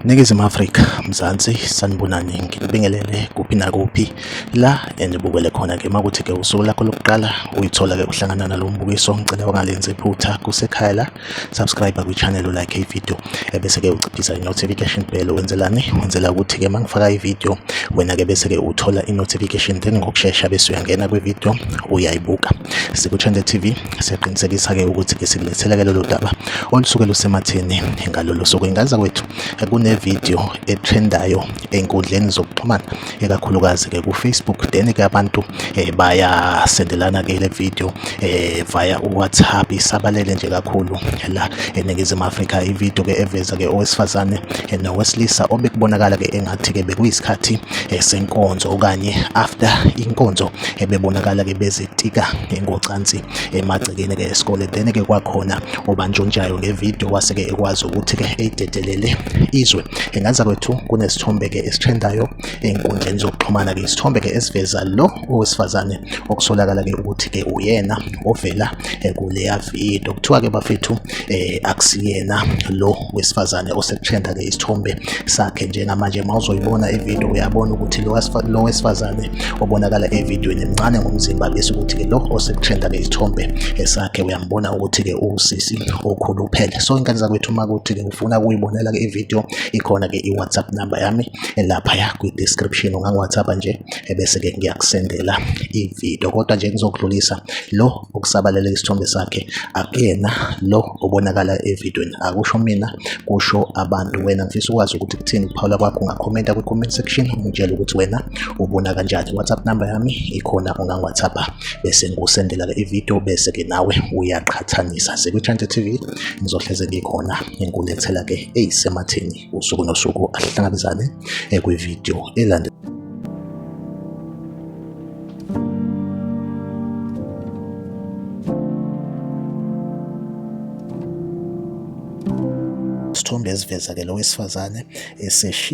Ningizimu Afrika, Mzansi, sanibonani ngibingelele kuphi nakuphi la enibukele khona ke makuthi ke usuku lakho lokuqala uyithola ke uhlangana nalo mbukiso ngicela ungalenzi iphutha kusekhaya la subscribe kwichannel ulike ivideo ebese-ke uciphisa i-notification bell wenzelani wenzela ukuthi-ke uma ngifaka ivideo wena-ke bese-ke uthola i-notification then ngokushesha bese uyangena kwivideo uyayibuka sikuchannel tv siyaqinisekisa-ke ukuthi-ke sikulethela-ke lolu daba olusuke lusematheni ngalolo suku ingaza kwethu kunevideo etrendayo ey'nkundleni zokuxhumana ikakhulukazi ke ku Facebook then ke abantu eh, baya sendelana ke le video eh, via WhatsApp isabalele nje kakhulu la eningizimu Afrika i video ke eveza ke owesifazane eh, nowesilisa obekubonakala ke engathi ke bekuyisikhathi eh, senkonzo okanye after inkonzo eh, bebonakala ke bezitika ngocansi emagcekeni ke esikole then ke kwakhona obantshontshayo ngevideo wase ke ekwazi ukuthi ke ededelele izwe Inganza kwethu kunesithombe ke esitrendayo ezinkundleni zokuxhumana ke isithombe ke esiveza lo owesifazane okusolakala ke ukuthi ke uyena ovela eh, kuleya video kuthiwa ke bafethu eh, akusiyena lo wesifazane osekutrenda ke isithombe sakhe njengamanje mawuzoyibona ivideo uyabona ukuthi lo wesifazane obonakala evidweni mncane ngomzimba bese ukuthi ke lo osekutrenda ke isithombe eh, sakhe uyambona ukuthi ke uwusisi okhuluphele so inkani zakwethu uma kuthi ke funa kuyibonela ke ivideo ikhona ke i-whatsapp number yami laphaya kwi-description ungangi-whatsapp nje ebese ke ngiyakusendela ivideo kodwa nje ngizokudlulisa lo okusabalele isithombe sakhe akuyena lo obonakala evidweni akusho mina kusho abantu wena ngifisa ukwazi ukuthi kuthini ukuphawula kwakho ungakhomenta kwi-comment section ungitshela ukuthi wena ubona kanjani whatsapp number yami ikhona ungangi-whatsapp bese ngikusendela ke ivideo bese ke nawe uyaqhathanisa sekwi-chante tv ngizohleze ngikhona ngikulethela ke eyisematheni usuku nosuku ahlangabezane eh, kwivideo elandela isithombe esiveza ke lo wesifazane eseshiya